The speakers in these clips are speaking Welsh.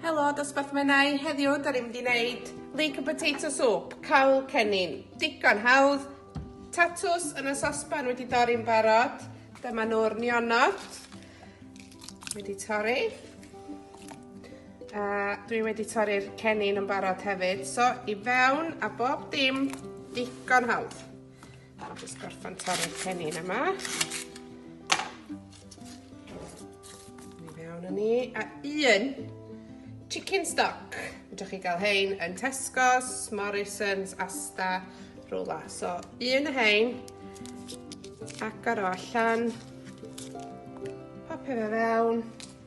Helo, dosbarth Menai. Heddiw, da ni'n mynd i wneud leek and potato soup, cawl cennin. Digon hawdd. Tatws yn y sosban wedi dorri'n barod. Dyma nhw'r nionod. Wedi torri. A dwi wedi torri'r cennin yn barod hefyd. So, i fewn a bob dim digon hawdd. Just gorffan torri'r cennin yma. Ni fewn yn ni. A un chicken stock. Fedrwch chi gael hein yn Tesco's, Morrison's, Asta, rhywle. So, un o hein. Agor o allan. Popio fe fewn.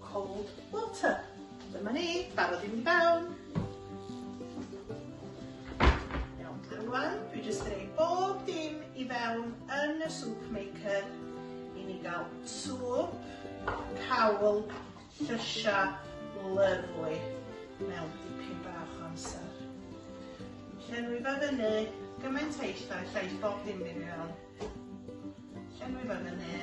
Cold water. Dyma ni, barod i mynd i fewn. Iawn, rwan, dwi jyst yn ei bob dim i fewn yn y soup maker i ni gael swp, cawl, llysia, lyflu mewn dipyn bach o amser. Llenwi fe fyny gymaint eich da, llais bob dim i mewn. Llenwi fe fyny.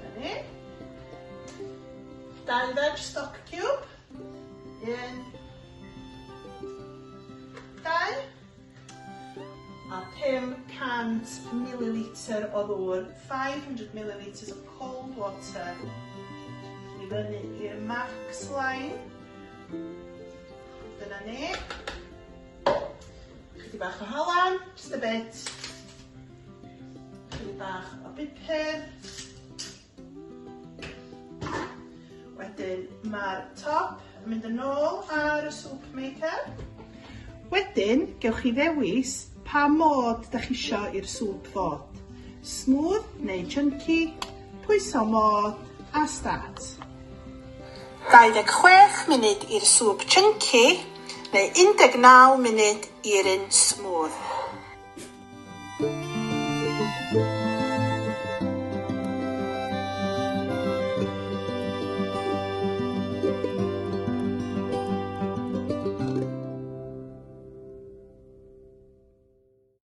Fyny. Dau veg stock cube. Un. Dau. A 500 millilitr o ddŵr, 500 milliliters of cold water i fyny i'r max line. Dyna ni. Chydig bach o halen, just a bit. Chydig bach o bupur. Wedyn mae'r top yn mynd yn ôl ar y soup maker. Wedyn, gewch chi ddewis pa mod da chi isio i'r soup fod. Smooth neu chunky, Pwyso modd a start. 26 munud i'r swp chunky neu 19 munud i'r un smooth.